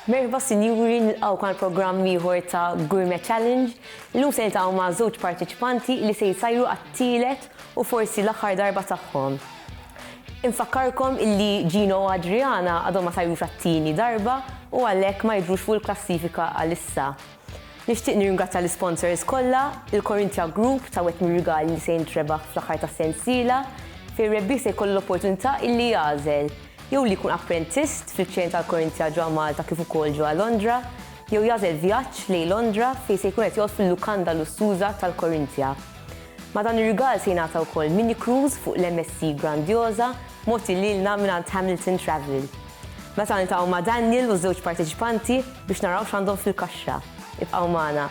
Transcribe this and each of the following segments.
Merħba sinjuri, nilqgħuk għal programm ieħor ta' Gourmet Challenge. Illum se niltaqgħu ma' żewġ parteċipanti li se jsajru għat-tielet u forsi l-aħħar darba tagħhom. Infakkarkom illi Gino u Adriana għadhom ma sajrux għat-tieni darba u għalhekk ma jidhrux fuq il-klassifika għalissa. Nixtieq nirringrazzja l-isponsors kollha, il-Corinthia Group tawetni rigali li se jintrebaħ fl-aħħar tas-sensiela, fejn ir-rebbieħ se jkollu l-opportunità illi jagħżel jew li jkun apprentist fl-iċ-ċeni tal-Corinthia ġewwa Malta kif ukoll ġewwa Londra, jew jagħżel vjaġġ lejn Londra fejn se jkun qed joqgħod fil-lukanda lussuża tal-Corinthia. Ma' dan ir-rigal se jingħata wkoll mini cruise fuq l-MSC Grandiosa mogħti lilna mingħand Hamilton Travel. Meta niltaqgħu ma' Daniel u ż-żewġ parteċipanti biex naraw x'għandhom fil-kaxxa. Ibqgħu magħna.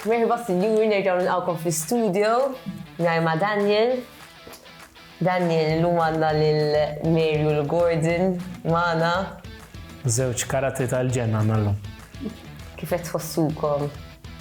Merħba sinjuri, nerġgħu nilqgħukom fl-istudio nhar ma' Daniel. Daniel, illum għandna lil Mary u l-Gordon magħna. Żewġ karatri tal-ġenna nallum. Kif qed tħossukom?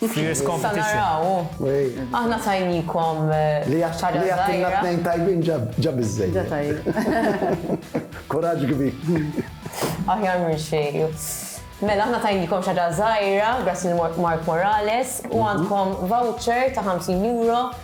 Fierce competition. Issa naraw hu. Aħna tajnikom ħaġa żgħira. Li jagħtilna tnejn tajbin ġa biżżejjed. Ġa tajjeb. Kuraġġ kbir. Aħjar minn xejn. Mela aħna tajnikom xi ħaġa żgħira grazzi lil Mark Morales u għandkom voucher ta' 50 euro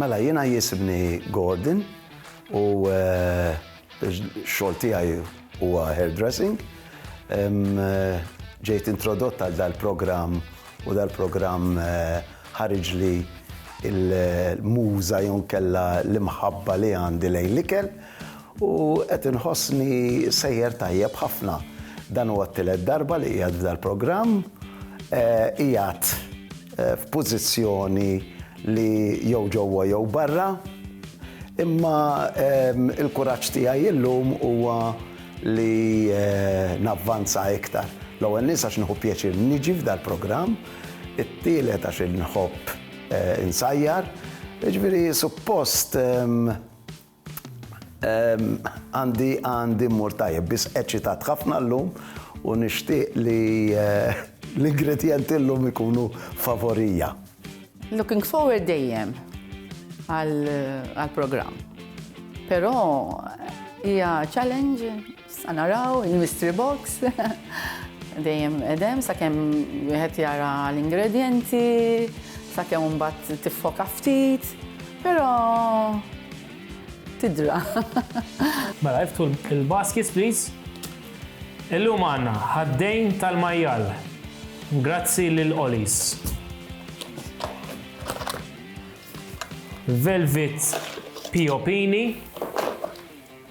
Mela jiena jisibni Gordon u x-xogħol tiegħi huwa hairdressing. Ġejt introdott għal dal-programm u dal-programm ħariġli l-muża jew inkella l-imħabba li għandi lejn l-ikel. U qed inħossni sejjer tajjeb ħafna. Dan huwa t-tielet darba li qiegħed f'dal-programm. Qiegħed f'pożizzjoni li jew ġewwa jew barra. Imma l-kuraġġ tiegħi illum huwa li navvanza iktar. L-ewwel nies għax nieħu pjaċir niġi f'dal-programm. It-tielet għax inħobb insajjar. Jiġifieri suppost. Għandi għandi mmur tajjeb, biss eċitat ħafna llum u nixtieq li l-ingredjenti llum ikunu favorija. Looking forward dejjem għall-programm, però hija challenge. Sa naraw il-mystery box. Dejjem edem sakemm wieħed jara l-ingredjenti, sakemm mbagħad tiffoka ftit, però tidra. Mela iftħu l-baskets please. Illum għandna ħaddejn tal-majjal. Grazzi lil Ollie's. Velvet piopini.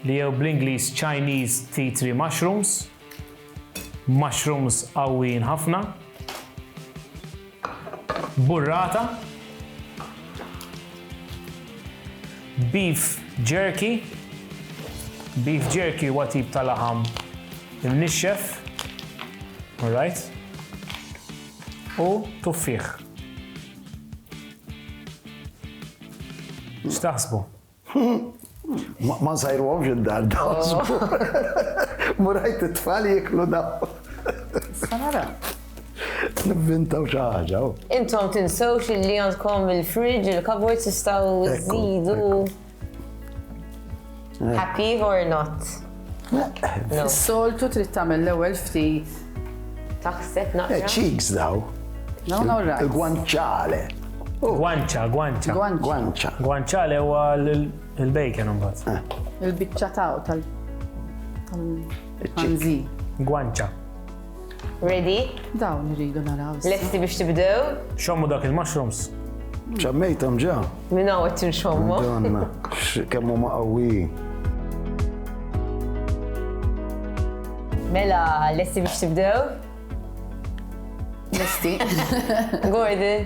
li jew bl-Ingliż Chinese tea tree mushrooms, mushrooms qawwijin ħafna, burrata, beef jerky, beef jerky huwa tip ta' laħam imnixxef, alright, u tuffieħ. X'taħsbu? Ma nsajruhomx id-dar dawn. Mu rajt it-tfal jiklu dawn. Sanara. Nivvintaw xi ħaġa. Oh. Intom tinsewx li għandkom il-fridge, il-kabord tistgħu żidu. Happy or not? Soltu trid tagħmel l-ewwel ftit. Taħseb naqra. Cheeks daw. Il-guanciale. Guancia, guancia. Guancia. Guanciale huwa l-bacon imbagħad. Eh. Il-biċċa taw tal-ħanżi. Guancia. Ready? Dawn irridu naraw. issa. Lesti biex tibdew? Xommu dak il-mushrooms. ċammejtom ġa. Minn hawn qed tinxommu. Donna, x- kemm huma qawwijin. Mela, lesti biex tibdew? Lesti. Gordon.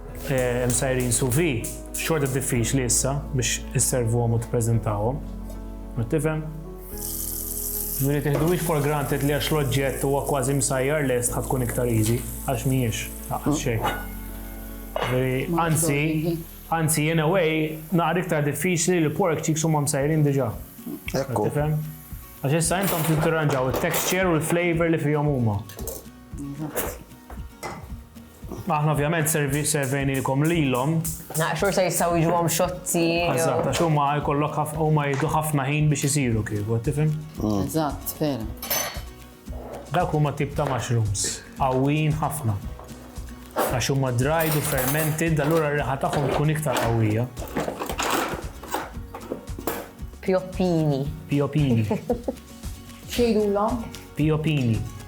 msajrin sous vide, xorta diffiċli issa biex isservuhom u tippreżentawhom. Tifhem? Ġifieri tiħduhiex for granted li għax l-oġġett huwa kważi msajjar lest ħa tkun iktar easy, għax mhijiex, laqqas xejn. Anzi, anzi in a way naqra iktar diffiċli li pork cheeks huma msajrin diġà. Ekku. Tifhem? Għax issa intom trid tirranġaw it-texture u l-flavor li fihom huma. Aħna ovvjament servejnilkom lilhom. Naqxur se jistgħu jiġuhom xotti. Eżatt, għax huma jkollok huma jieħdu ħafna ħin biex isiru kieku, tifhem? Mm. Eżatt, vera. Dak huma tip ta' mushrooms, qawwijin ħafna. Għax huma dried u fermented, allura r-riħa tagħhom tkun iktar qawwija. Piopini. Piopini. Xejdulhom? Piopini.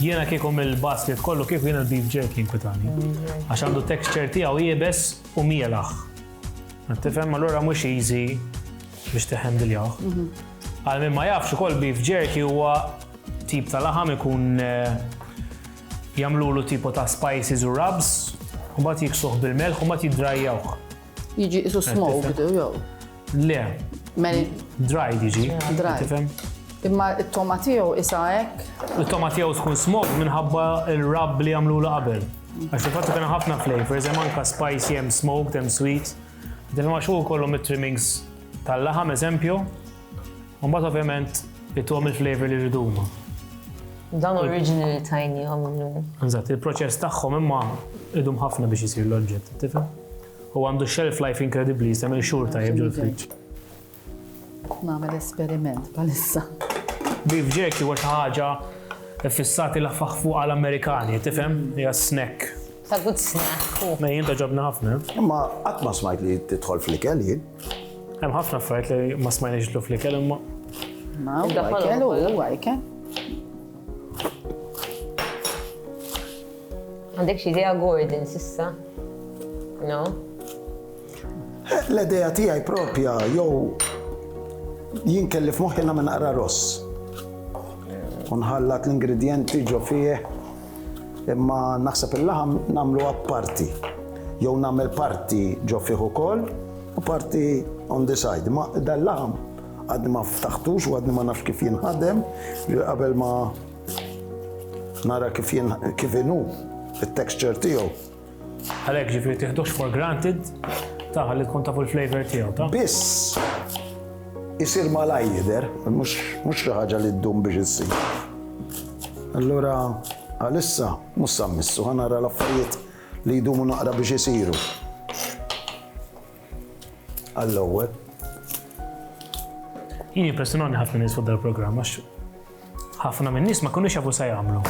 Jiena kieku mill-basket kollu kieku jiena l-beef jerky inkwitani. Għax għandu texture tiegħu jibes u mielaħ. Tifhem allura mhux easy biex teħem diljaħ. Mhm. Għal minn ma jafx ukoll beef jerky huwa tip ta' laħam ikun eh, jagħmlulu tipo ta' spices u rubs, u mbagħad jiksuh bil-melħ u mbagħad jiddrajjawh. Jiġi isu smoked, jew? Le. Mel. Dried jiġi. Dried. Imma it-toma tiegħu isa hekk. It-toma tiegħu tkun smoked minħabba il-rab li jagħmlu la qabel. Għax il-fatt kien ħafna flavors, hemm anka spicy, hemm smoked, hemm sweet. Din ma xu kollhom it-trimmings tal-laħam eżempju. Mbagħad ovvjament it-tom il-flavor li rridu huma. Dan originally tajni għamlu. Eżatt, il-proċess tagħhom imma idum ħafna biex isir l-oġġett, tifhem? Huwa għandu shelf life inkredibbli jista' jagħmel xhur tajjeb ġol-friġġ. Nagħmel esperiment bħalissa. Beef jerky huwa xi ħaġa fissati lafaħ fuq għal Amerikani, tifhem? Hija snack. Ta' good snack. Mej jien toġobna ħafna. Imma qatt ma smajt li tidħol fl-ikel jien. Hemm ħafna affarijiet li ma smajniex jidħlu fl-ikel imma. Ma huwa ikel huwa ikel. Għandek xi idea Gordon s'issa? No? L-idea tiegħi propja jew jien kelli f'moħħi nagħmel naqra ross. U nħallat l-ingredjenti ġo fih imma naħseb il-laħam nagħmlu apparti. Jew nagħmel parti ġo fih ukoll u parti on the side. Ma dal-laħam għadni ma ftaħtux u għadni ma nafx kif jinħadem qabel ma Nara kif jien kif inhu it-texture tiegħu. Għalhekk ġifieri tieħdux for granted taħ li tkun tafu l-flavor tiegħu ta'. Biss isir malaj jidher, mhux xi ħaġa li ddum biex issir. Allura għalissa mhux sammissu ħanara l-affarijiet li jdumu naqra biex isiru. Għall-ewwel. Jien impressjonani ħafna nies fuq dal-programm għax ħafna minn nies ma kunux jafu se jagħmlu.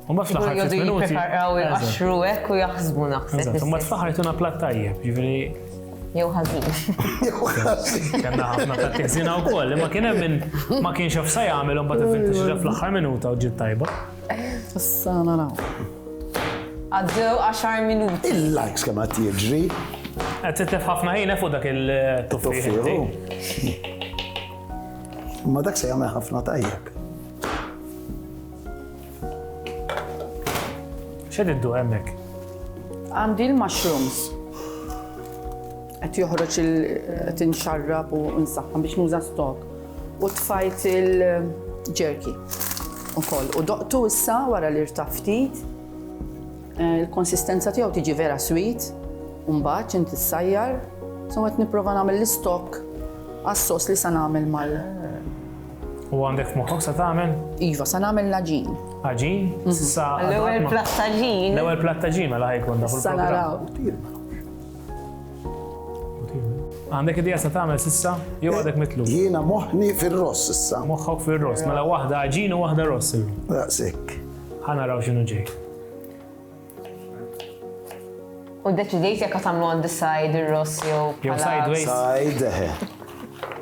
U ma fl-aħħar ftit minuti. Jippreparaw il-qaxru hekk u jaħsbu naħseb. U ma fl-aħħar jtuna plat tajjeb, jiġifieri. Jew ħażin. Jew ħażin. Kellna ħafna ta' tiħżina wkoll, imma kien hemm ma kienx jaf se jagħmel u mbagħad ivvinta xi fl-aħħar minuta u ġiet tajba. Issa naraw. Għaddew 10 minuti. Il-likes kemm għad jiġri. Għad titlef ħafna ħina fuq dak il-tuffiħu. Ma dak se jagħmel ħafna tajjeb. ċed iddu hemmhekk? Għandi l-mushrooms. Qed joħroġ il-tinxarrab u nsaħħa biex nuża stok. U tfajt il-ġerki ukoll. U doqtu issa wara li rtaf ftit. Eh, il-konsistenza tiegħu tiġi vera sweet, u mbagħad int issajjar. So qed nipprova nagħmel l-istokk għas-sos li sa nagħmel mal. U għandek moħħok sa tagħmel? Iva, sa nagħmel l-aġin. Aġin? Mhm. Sa l-ewwel plattaġin. L-ewwel plattaġin mela ħajkun dak il-programm. Għandek idea sa tagħmel sissa? Jew eh, għadek mitlu? Jiena moħni fir-ross issa. Moħħok fir-ross, mela waħda ġin u waħda ross. Daqsik. Ħana raw x'inhu ġej. U deċidejt jekk tagħmlu on the side ir-ross jew. Jew sideways. Side. Eh.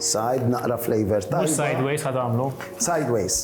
Side naqra flavor ta' Mhux sideways ħad għamlu. Sideways.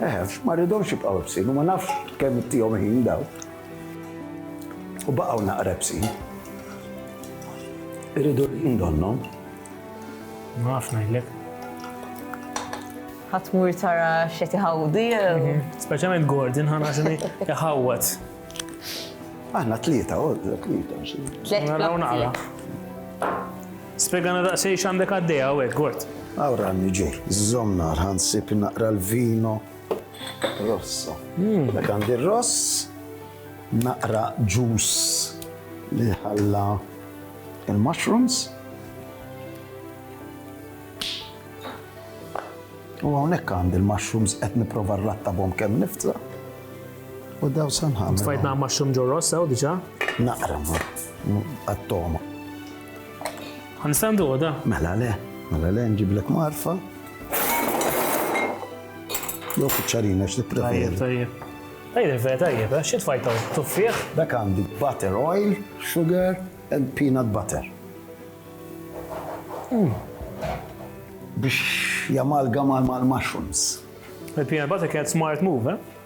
Eħefx, ma rridhomx jibqgħu ebsin u ma nafx kemm ittihom ħin dawn. U baqgħu naqra ebsin. Irridu l-ħin donnhom. Ma nafx ngħidlek. Ħatmur tara x'qed iħawdi. Mhm. Speċjalment Gordon ħana xini iħawwad. Aħna tlieta, oh, tlieta. Tlieta. Naraw naqra. Spjegana daqsxejn x'għandek għaddej hawnhekk, Gort. Hawn ranni ġej. Żżommna għal ħansib naqra l-vino rosso. Dak għandi r-ross, naqra ġus li ħalla il-mushrooms. U hawnhekk għandi l-mushrooms qed nipprova rrattabhom kemm nifta. U daw sanħam. Tfajt naqra mushroom ġo rossa u diġà? Naqra ma. Għattoma. Għanistandu għoda? Mela le, mela le, nġiblek marfa. Jo kuċċarina x'li preferi. Tajjeb, tajjeb. vera tajjeb, eh? xi tfajta tuffiħ? Dak għandi butter oil, sugar and peanut butter. Mm. Biex jamalgama mal-mushrooms. Il-peanut butter kienet smart move, eh?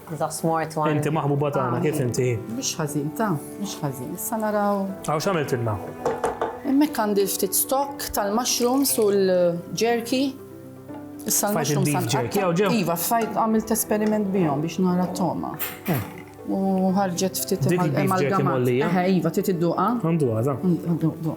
The smart one. Inti maħbuba tagħna, kif inti? Mhux ħażin ta', mhux ħażin. Issa naraw. Għaw x'għamilt ilna? Hemmhekk għandi ftit stock tal-mushrooms u l-jerky. Issa l-mushrooms għandhom. Iva, fajt għamilt esperiment bihom biex nara t-toma. Eh. U ħarġet ftit mal-gamat. Iva, trid idduqa? Għanduqa, da. Għanduqa.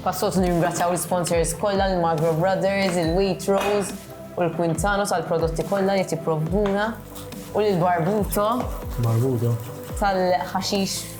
Passot nirringrazzjaw l-sponsors kollha l-Magro Brothers, il-Waitrose u l-Quintano tal-prodotti kollha li tipprovduna u l-Barbuto. Barbuto. Tal-ħaxix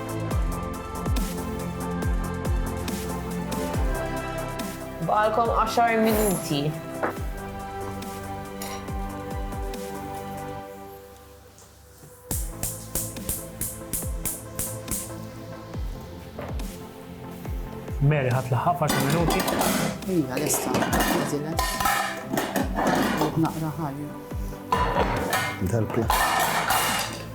Baqalkom għaxar minuti. Mary ħat laħħa f'għaxar minuti. Ija, lesta, għazilet. Naqra ħajja. Dal-pla.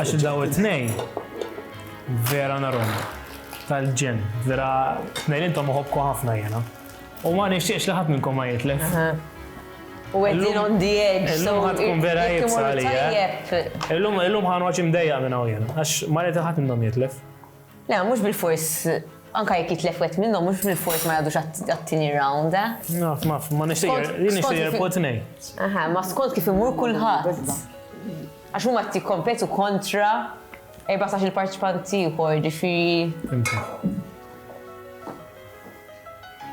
Għax daw it-tnejn vera narom tal-ġen, vera tnejn intom uħobku ħafna jena. U ma nixtieqx li ħadd minnkom ma jitlef. U għedin on the edge. Illum ħad tkun vera jibsa li. Illum ħan waċ imdejja minn hawn jena, għax ma rrit ħadd minnhom jitlef. Le, mhux bilfors anke jekk jitlef wieħed minnhom mhux bilfors ma jgħadux għat-tieni round, eh? Naf, ma ma nixtieq nixtieq jirpu tnej. Aha, ma skont kif imur kulħadd. Għax huma qed jikkompetu kontra 14 il-parċipant ieħor, ġifieri.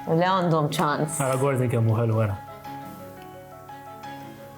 Le għandhom ċans. Ara Gordon kemm hu ħelu wara.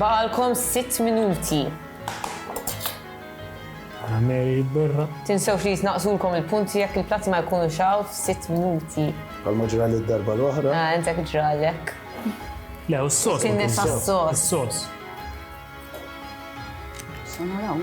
Baqalkom sitt minuti. Ara Mary jitberra. Tinsewx li jitnaqqsulkom il-punti jekk il-platti ma jkunux hawn f'sitt minuti. Bħalma ġrali d-darba l-oħra. Ah, intek ġralek. Le, u s-sos. Tinni sas-sos. Is-sos. Sanaraw.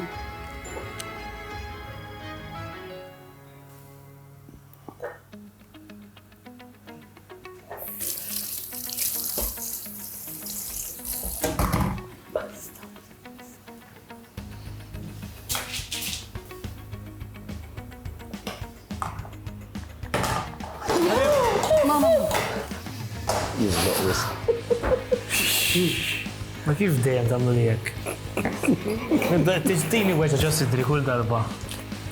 Ma kif dejjem tagħmlu li hekk? Tixtini weġa ġo sidri kull darba.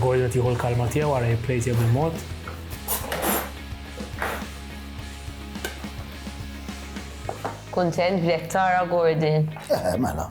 Gordon qed jieħu l-kalma tiegħu ara jipplejt jew bil-mod. Kuntent b'jekk tara Gordon. Eh, mela.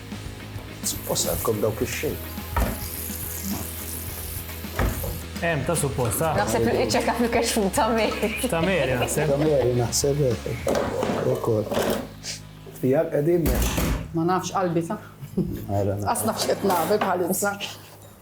Suppost għandkom dawk ix-xejn. Hemm ta' suppost ta'. Naħseb li iċċeka fil-keċ fuq ta' Meri. Ta' Meri naħseb. Ta' Meri naħseb ukoll. Fija qegħdin Ma nafx qalbi ta'. Għas nafx qed nagħmel bħalissa.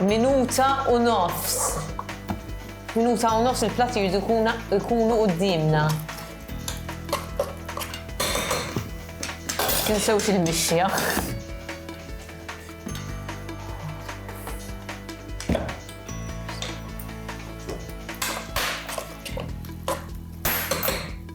Minuta u nofs. Minuta u nofs il-plat jirdu jkunu qoddimna. Tinsewx il-mixja.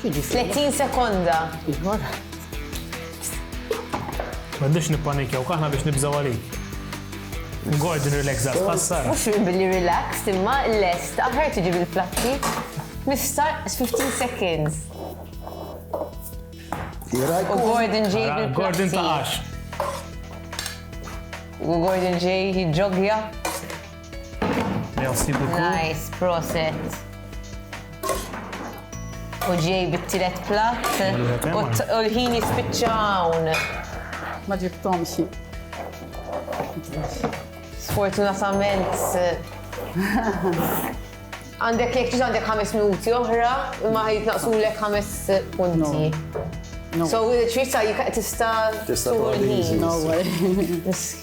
30 sekonda. M'għandux nippanikjaw kaħna biex nibżaw għalik. Ngord relax għas passar. Mux minn billi relax, imma l-est, aħħar tiġi bil-platti. Nifsar 15 seconds. U Gordon ġej bil-platti. Gordon taqax. U Gordon ġej jġogja. Merci beaucoup. Nice, proset. U ġej bit-tiret plat u l-ħin jispiċċawn. Ma ġibtomx. Sfortunatament. Għandek jek ġiġ għandek ħames minuti oħra, ma jitnaqsu l ħames punti. So, ċisa jika tista. Tista. Tista.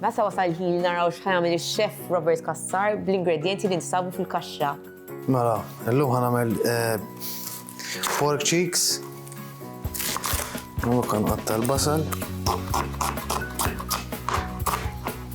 Meta wasal il-ħin li naraw x'ħajamil ix-xef Robert Kassar bl-ingredjenti li nsabu fil-kaxxa. Mela, illum ħanamel eh, pork cheeks. U kan qatta l-basal.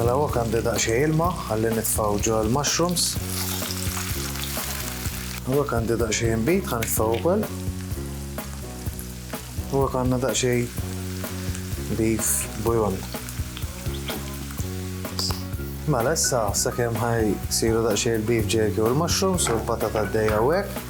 Mela hawnhekk għandi daqsxejn ilma ħalli nitfgħu ġo l-mushrooms. Hawnhekk għandi daqsxejn inbid ħa nitfgħu wkoll. Hawnhekk għandna daqsxejn beef bouillon. Mela issa sakemm ħaj siru daqsxejn il-beef jerky u l-mushrooms u l-patata għaddejja hawnhekk.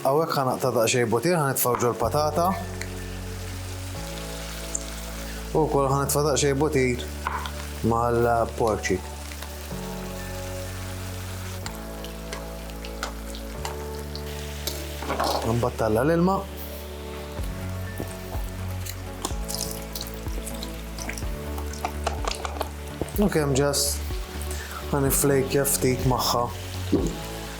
Hawnhekk ħa naqta' daqsxejn butir ħa nitfgħu ġol-patata. U wkoll ħa nitfa' daqsxejn butir mal-porċi. Nbattalla l-ilma. U kemm ġast ħan iflejkja ftit magħha.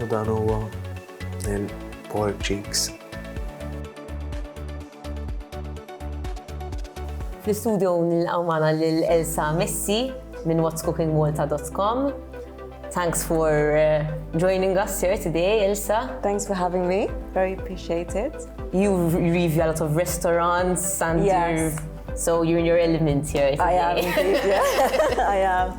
U dan huwa il-pork cheeks. Fl-istudio nilqgħu magħna lil Elsa Messi minn whatscookingmalta.com. Thanks for joining us here today, Elsa. Thanks for having me. Very appreciate it. You review a lot of restaurants and you're in your element here today. I am. I am.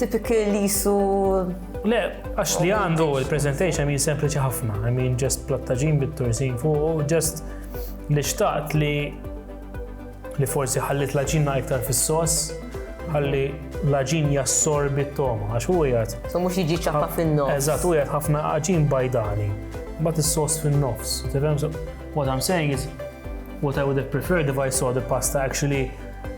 Tipiki li jisu. Le, għax li għandu il-presentation min sempliċi ħafna, I mean just plattaġin bit-tursin fuq, just li xtaqt li li forsi ħallit laġina iktar fis-sos, ħalli laġin jassorbi t-toma, għax u jgħat. So mux jiġi ċappa fin-nofs. Eżat, u jgħat ħafna għaġin bajdani, bat il-sos fin-nofs. What I'm saying is, what I would have preferred if I saw the pasta actually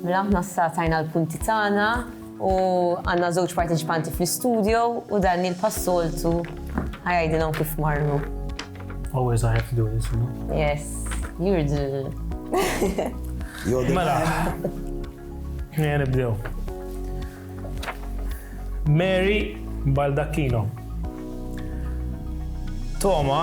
Mela aħna issa tajna l-punti tagħna u għandna żewġ parteċipanti fl-istudio u Daniel pas-soltu ħajajdilhom kif marru. Always I have to do this, you know? Yes, you're the... Mela, nija nibdew. Mary Baldacchino. Toma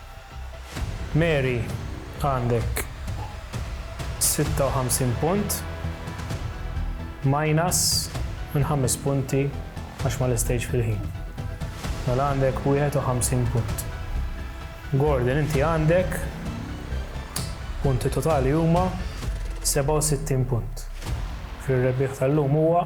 Mary għandek 56 punt, minus minn ħames punti għax ma lestejtx fil-ħin. Mela għandek 51 punt. Gordon inti għandek punti totali huma 67 punt. Fir-rebbieħ tal-lum huwa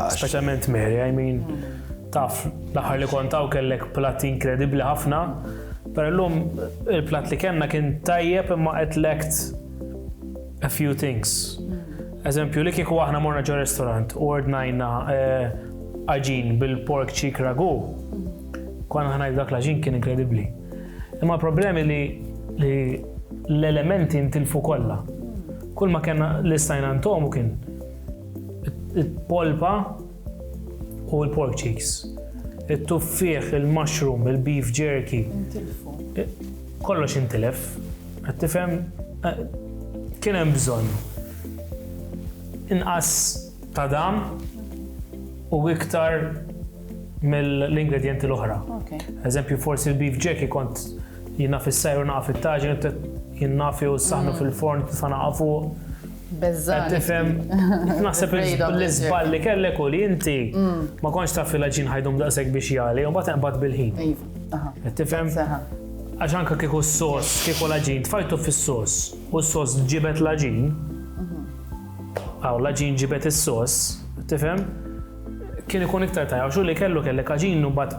Speċjalment Mary, I mean, taf, l-aħħar li kontaw kellek platt inkredibbli ħafna, per l-lum il-platt li kellna kien tajjeb imma qed lekt a few things. Eżempju, li kieku aħna morna ġo restaurant u ordnajna eh, aġin bil-pork cheek ragu, konna ħana dak l-aġin kien inkredibbli. Imma problemi li l-elementi ntilfu kollha. Kull ma kena l-istajna ntomu kien Il-polpa u l-pork cheeks. Il-tuffieħ, il-mushroom, il-beef jerky. Kollox intilef. Qed tifhem eh, kien hemm bżonn inqas ta' dam u iktar mill-ingredienti l-oħra. Eżempju, forsi l-beef jerky kont jinnaf fis-sajru naqaf it-taġin, jinnafi u s-saħnu mm. fil-forn, t-fana fuq Bezzali. Qed tifhem? Naħseb l-iżball li kellek u li inti mm. ma kontx taf li l-ġin ħajdum daqshekk biex jali u mbagħad inqbad bil-ħin. Iva, qed tifhem? Għax anke kieku s-sos, kieku l-ġin tfajtu fis-sos u s-sos ġibet l-ġin, għaw mhm. l-ġin ġibet is-sos, tifhem? Kien ikun iktar tajja, xu li kellu kellek ġin u mbagħad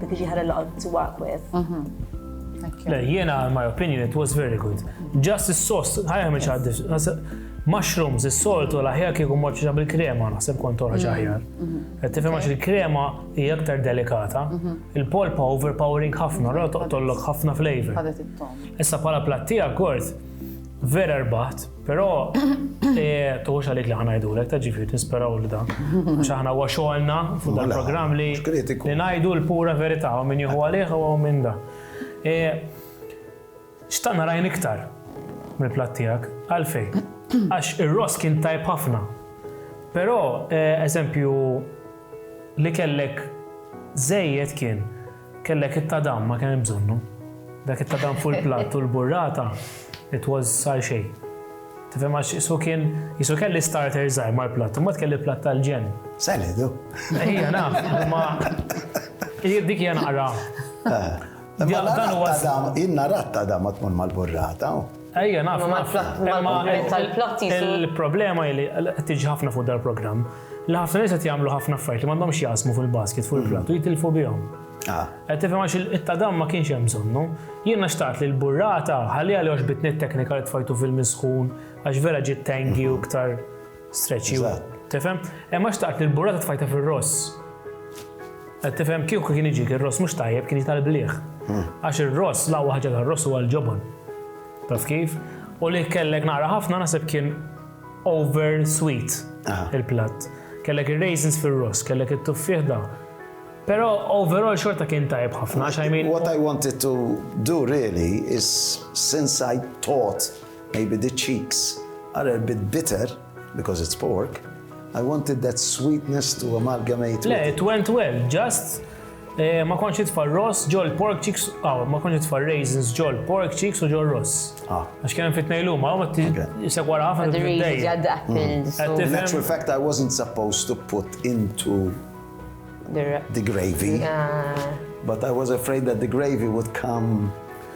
Dak iġi ħarel laqgħod to work with. Le, jiena, in my opinion, it was very good. Just is-sos, ħajja miex għaddis. Mushrooms, is-soltu, l-aħjar kieku morċa bil-krema, naħseb kont toħroġ mm-hmm. aħjar. Mm-hmm. Tifhem għax il-krema hija aktar delikata, mm-hmm. il-polpa overpowering ħafna, ra toqtollok ħafna flavor. Issa bħala plattija kort, vera rbaħt, Però tuħux għalik li ħana jidulek, ta' ġifiri tisperaw li da. Għax aħna huwa xogħolna fuq dan program li li ngħidu l-pura verità u min jieħu għalih u minn da. E, Xtaqna rajn iktar mill-platt tiegħek, għalfej. Għax ir-ross kien tajb ħafna. Però e, eżempju li kellek żejjed kien Kellek it-tadam, ma kien hemm bżonnu. Dak it-tadam fuq il-platt u l-burrata, it was sar xejn. Tifhem għax isu kien, isu kelli starter żgħir mal-platt, imbagħad kelli platt tal-ġenn. Salad hu. Ejja naf, imma dik hija naqra. Dan huwa. Jien nara t-tadam ma tmur mal-burrata. Ejja, naf. Imma mal-problema tal-plot jisu. Il-problema hi li qed tiġi ħafna fuq dal-programm li ħafna nies qed jagħmlu ħafna affarijiet li m'għandhomx jaqsmu fil-basket fuq il-platt u jitilfu bihom. Ah. Qed tifhem għax it-tadam ma kienx hemm bżonnu. Jiena xtaqt li l-burrata ħalliha li għax bitni t-teknika li tfajtu fil-misħun għax vera ġiet tangi u iktar Stretch you. Eżatt. Tifhem? Imma xtaqt li l-burrata tfajta fir-ross. Qed tifhem kieku kien jiġik ir-ross mhux tajjeb kien jiġi tal-bliħ. Għax ir-ross l-aqwa ħaġa tar-ross huwa l-ġobon. Taf kif? U li kellek naqra ħafna naħseb kien over sweet Aha. il-platt. Kellek ir-raisins fir-ross, kellek it-tuffieħ da. Però overall xorta kien tajjeb ħafna għax I mean What I wanted to do really is since I taught Maybe the cheeks are a bit bitter because it's pork, I wanted that sweetness to amalgamate with it. Le, it went well, just ma kontx nitfa' r-ross ġol pork cheeks, aw, ma kontx nitfa' raisins ġol pork cheeks u ġol ross. Ah. Għax kemm fit nejlum, aw, jisek wara ħafna t-dej. Mm. Natural fact, I wasn't supposed to put into the gravy, but I was afraid that the gravy would come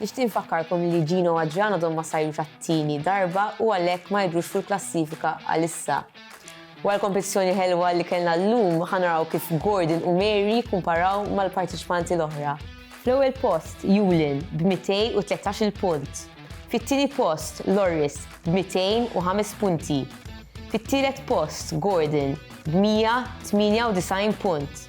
Nixtieq infakkarkom li Gino u Adrian għadhom ma sajrux għat-tieni darba u għalhekk ma jidhrux fil-klassifika għalissa. Wara l-kompetizzjoni ħelwa li kellna llum ħa naraw kif Gordon u Mary jikkumparaw mal-parteċipanti l-oħra. Fl-ewwel post Yulin b' 213 il-punt. Fit-tieni post Loris b' 205 punti. Fit-tielet post Gordon b' 198 punt.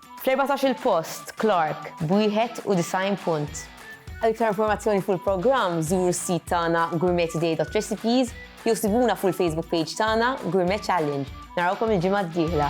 Fl-erbatax-il post, Clarke, b'91 punt. Għal iktar informazzjoni fuq il-programm, żuru s-sit tagħna gourmettoday.recipes jew sibuna fuq il-Facebook page tagħna, Gourmet Challenge. Narawkom il-ġimgħa d-dieħla!